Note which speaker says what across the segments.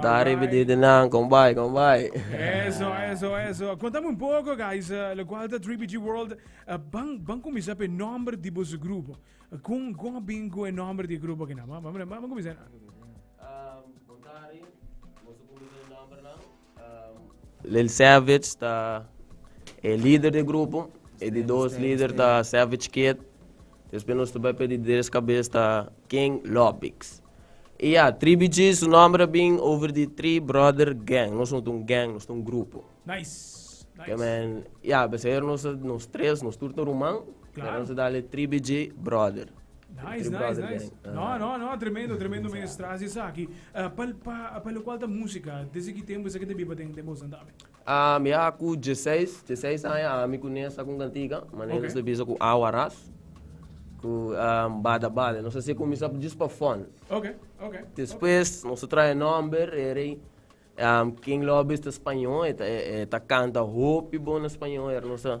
Speaker 1: Ta riba di di
Speaker 2: nan con bay, con bay. Eso, eso,
Speaker 3: eso. Contame un poco, guys, eh, lo cual ta 3BG World. eh, van, van comenzar pe nombre di bosu grupo. Eh, Con, con a bin con e nombre di grupo que na? Van, van, van comenzar.
Speaker 2: Lil Savage ta e líder di grupo. E di dos líder ta Savage Kid. Después nos ta bay pe di tres cabez ta King Lopix. E ya, Tribi G su nòmber a bin over di tri bròder gèng. Nos no ta un gèng, nos ta un grupo.
Speaker 3: Ke men, ya,
Speaker 2: beseer nos a, nos tres, nos tur ta ruman, pero nos a dal e
Speaker 3: Tribi G
Speaker 2: bròder. Tri bròder
Speaker 3: gèng. No, no, no, tremendo, tremendo meestras esaki. Pa, pa, pa lokual ta músika, desde ki tempu esaki ta biba den den boso andami? A mihá ku
Speaker 2: dieseis, dieseis aña ami ku Nessa ku kantiga, manera nos ta bisa ku awa ras, ku bada bada. Nos a siña kuminsá djis pa fon.
Speaker 3: Despues
Speaker 2: nos a traha e nòmber, e rei King Lobbys ta spañó, e ta kanta hopi bon na spañó, aver nos a.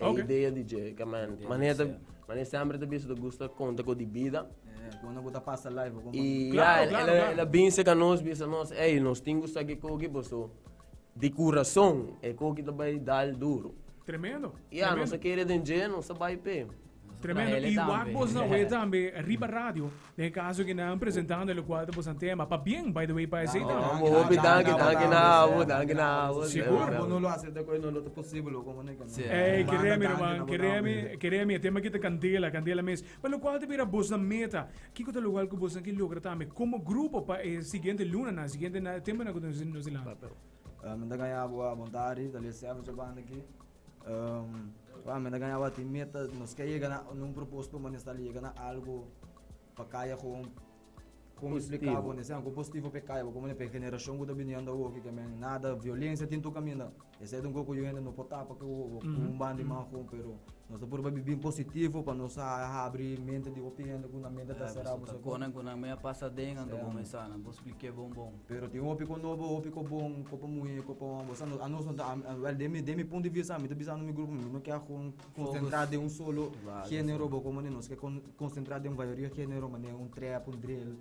Speaker 2: E okay. idea di Jay, que man, mané ta, mané sempre ta bicho, gusta conta con di vida. Quando gusta
Speaker 1: passa live, como... E, claro, yeah, claro, ela,
Speaker 2: claro. ela binse com nós, bisa nós, ei, nós tem gusta que coque, boso, de coração, é coque também dá duro. Tremendo. Yeah,
Speaker 3: tremendo. nós querer de
Speaker 2: Jay, nós vai pé. Tremendo, i
Speaker 3: wak bos na oe tambe riba radio den e kaso ke nan presentando elokual ta bosan tema, pa bien by the way pa esei tambe. Amo hopi danki,
Speaker 2: danki na amo, danki na
Speaker 1: amo. Sigur. Bo no lo hace ta koe no lo ta posible lo komo neke nan. Ey keremi ruman, keremi,
Speaker 3: keremi e tema ki ta kandela, kandela mes. Pa lokual ta bira bos na meta, kiko ta lokual ku bosnan ke logra tambe komo grupo pa e siguiente lunanan, siguiente na tempunan ku nos e lanta? Bo ta gaña
Speaker 1: bo a bontadi, tal vez sèf ocho banda aki. Pa menta gaña awa tin meta, nos ke yega na un propósito ma nestal yega na algu pa kaya gewoon kon mi spliká bo nesei algu positivo p'e kaya bo komo p'e generashon ku ta bini anda awoki ke men nada violensia tin tur kaminda esei ta un kos ku yu hende no por tapa ku un ban di man gewoon pero nos ta purba bibi bin positivo pa nos a habri mente di hopi hende ku nan mente ta
Speaker 4: será bo sabó. pero tin hopi cu nobo
Speaker 1: hopi cu bon cu pa muhe cu pa homber osea anos no ta well den mi den mi punto de vista ami ta bisando mi grupo mi no ke agun concentra den un solo genero bo como nos ke concentra den mayoria genero mane un trap un drill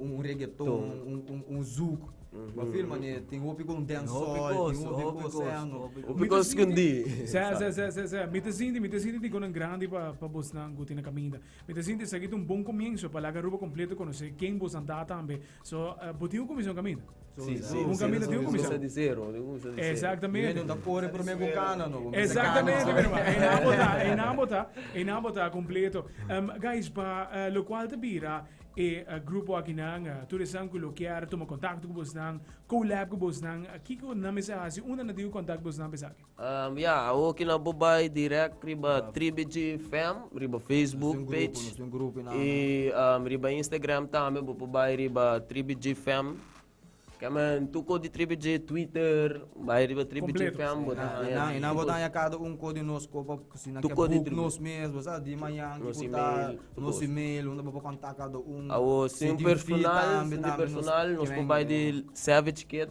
Speaker 1: un regeton un zouk bo feel mane tin hopi cu un dancehall tin hopi cu osea no hopi cu escondi
Speaker 2: sa sa sa sa sa
Speaker 3: mi ta sinti mi ta sinti tin conan grandi pa pa bosnan cu tin na caminda mi ta sinti esaki ta un bon comienzo pa laga Aruba completo conoce ken bosnan ta tambe So, uh, bo tin un comisión caminda. So, sí, sí, un
Speaker 2: caminda sí, tin un comisión.
Speaker 3: Comienza de zero, de comienza
Speaker 2: de Exactamente. Menos
Speaker 3: da corre por
Speaker 1: meio cana, no. Exactamente, meu irmão.
Speaker 3: E na bota, e na bota, e na bota completo. Um, guys, pa uh, lo cual te bira e uh, grupo aqui nan, uh, eh, turesan que lo quer, toma contacto com vos nan, collab com vos nan, aqui que na mesa hace, una na digo contacto vos nan pesaki. Ya, awo ki
Speaker 2: nan por bai direct riba Tribi G fm riba Facebook page y riba Instagram tambe bo por bai riba Tribi G fm. Kieman tur cos di Tribi G, Twitter, bai riba Tribi G fm bo ta haña. Y nan bo ta haña cada
Speaker 1: un cos di nos cu pa si nan ke boek nos mes bo sa di mañan ki por ta nos email unda bo por contacta cada un. Awo si un
Speaker 2: personal, si un di personal nos por bai di Savage Kid.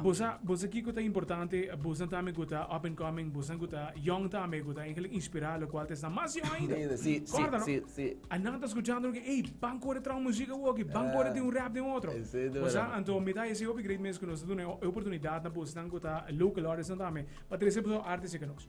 Speaker 3: Bosa
Speaker 4: bosa kiko ta
Speaker 3: importante busnan tambe ku ta up and coming busnan ku ta yong tambe ku ta eigenlik inspirá lokual ta esnan mas yong ainda kòrda no a nan ta
Speaker 2: skuchando no
Speaker 3: ke ey ban kore e trao muzik awo aki ban kore tin un rap den otro bosa anto
Speaker 2: mi ta hesei
Speaker 3: hopi
Speaker 2: great
Speaker 3: mes ku nos ta duna e oportunidat na busnan ku ta local artistnan tambe pa trese boso artes eken nos.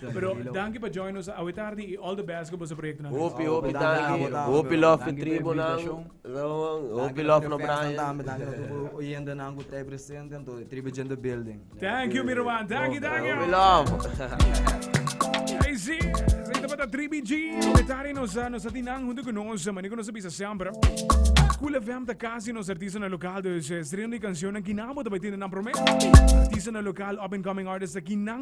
Speaker 3: Pero danki pa join nos awe tardi i all the best ku boso proyektonan reis. Hopi hopi danki,
Speaker 1: hopi
Speaker 2: lof di
Speaker 1: tribu
Speaker 2: nan,
Speaker 4: hopi
Speaker 2: lof no Brian. Danki nos tudu
Speaker 1: oyentenan ku ta presente anto e tribu jende building. Thank you mi ruman,
Speaker 3: danki danki. Hopi lof. Ei si, esei tabata Tribi G. Awe tardi nos a nos a tin nan huntu ku nos, mane ku nos a bisa semper. Cool FM ta kasi nos artistanan lokal, dus strenan di kanshonnan kinan bo ta bai tende nan promé. Artistanan lokal, up and coming artists, kinan.